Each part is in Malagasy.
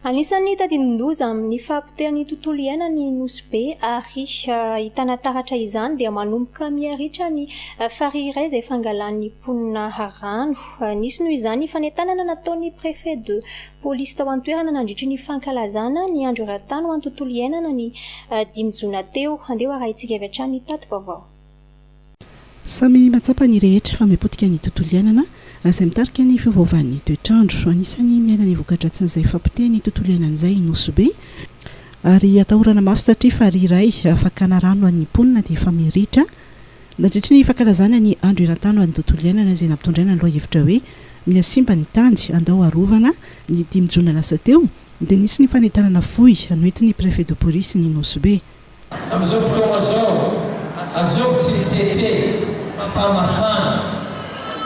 Anisan'ny tadidin-doza amin'ny fahapotehan'ny tontolo iainana ny nosy be ary ahitana taratra izany dia manomboka miha ritra ny farihy iray izay fangalan'ny mponina rano. Nisy noho izany ny fanentanana nataon'ny Préfet de Police tao an-toerana nandritry ny fankalazana ny andro eran-tany ho an'ny tontolo iainana ny dimy jona teo. Andeha ho arahintsika avy hatrany ny tati-baovao. Samy mahatsapa ny rehetra fa mihapotika ny tontolo iainana raha izay mitarika ny fiovaovan'ny toetr'andro. Anisan'ny miaina ny voka-dratsin'izay fahapotehan'ny tontolo iainana izay i Nosy Be ary atahorana mafy satria farihy iray fakana rano an'ny mponina dia efa miritra nandritry ny fankalazana ny andro eran-tany ho an'ny tontolo iainana izay nampitondraina ny lohahevitra hoe Miha simba ny tany, andao arovana. Ny dimy jona lasa teo dia nisy ny fanentanana fohy noentin'ny Préfet de Police ny Nosy Be. Amin'izao fotoana izao, ajobo tsikelikely fa mafana,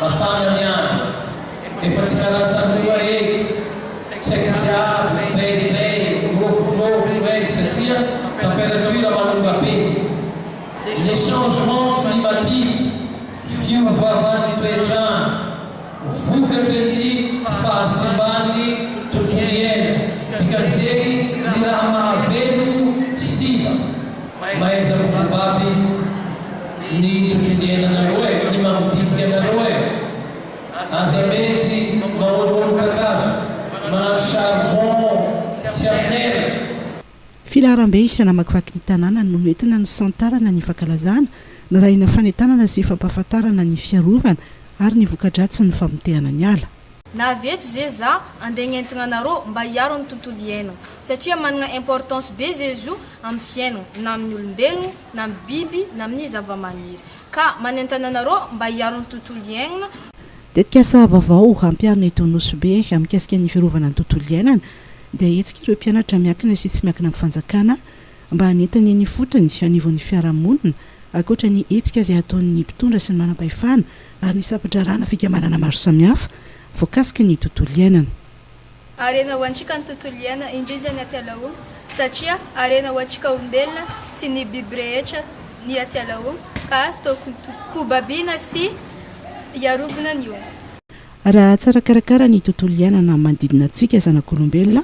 mafana ny andro, efa tsy karaha taloha ee, tsy haiko jiaby grey grey, rovidrovy grey satria temperature manonga be. Ny changement climatique, fiovaovan'ny toetr'andro. Vokatry ny fahasimban'ny tontolo iaina, dikan'izeny ny raha mahavelona sy simba, mahaiza mibaby ny tontolo iainanareo e, ny manodidina anareo e, aza mety mamonomono kakazo, manao charbon tsy amin'aina. Filaharambe isa namakivaky ny tanàna no noentina nisantarana ny fankalazana, narahina fanentanana sy fampahafantarana ny fiarovana ary ny voka-dratsin'ny famotehana ny ala. Na avy eto ze za andeha agnentigna anarô mba hiaro ny tontolo iainagna satria managna importance be ze zo amin'ny fiainagna na amin'ny olombelogno na amin'ny biby na amin'ny zavamaniry ka manentana anarô mba hiaro ny tontolo iainagna Tetikasa vaovao hampiharina eto Nosy Be mikasika ny fiarovana ny tontolo iainana dia hetsika ireo mpianatra miankina sy tsy miankina amin'ny fanjakana mba hanentany ny fotony anivon'ny fiarahamonina, ankoatra ny hetsika izay ataon'ny mpitondra sy ny manampahefana ary ny sampan-draharahanà fikambanana maro samihafa voakasiky ny tontolo iainana. Harena ho antsika ny tontolo iainana, indrindra ny atiala-o, satria harena ho antsika olombelona sy ny biby rehetra ny atiala-o, ka tokony kobabiana sy hiarobina ny o. Raha tsara karakara ny tontolo iainana manodidina antsika zanak'olombelona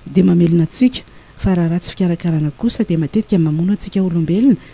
dia mamelona antsika, fa raha ratsy fikarakarana kosa dia matetika mamono antsika olombelona,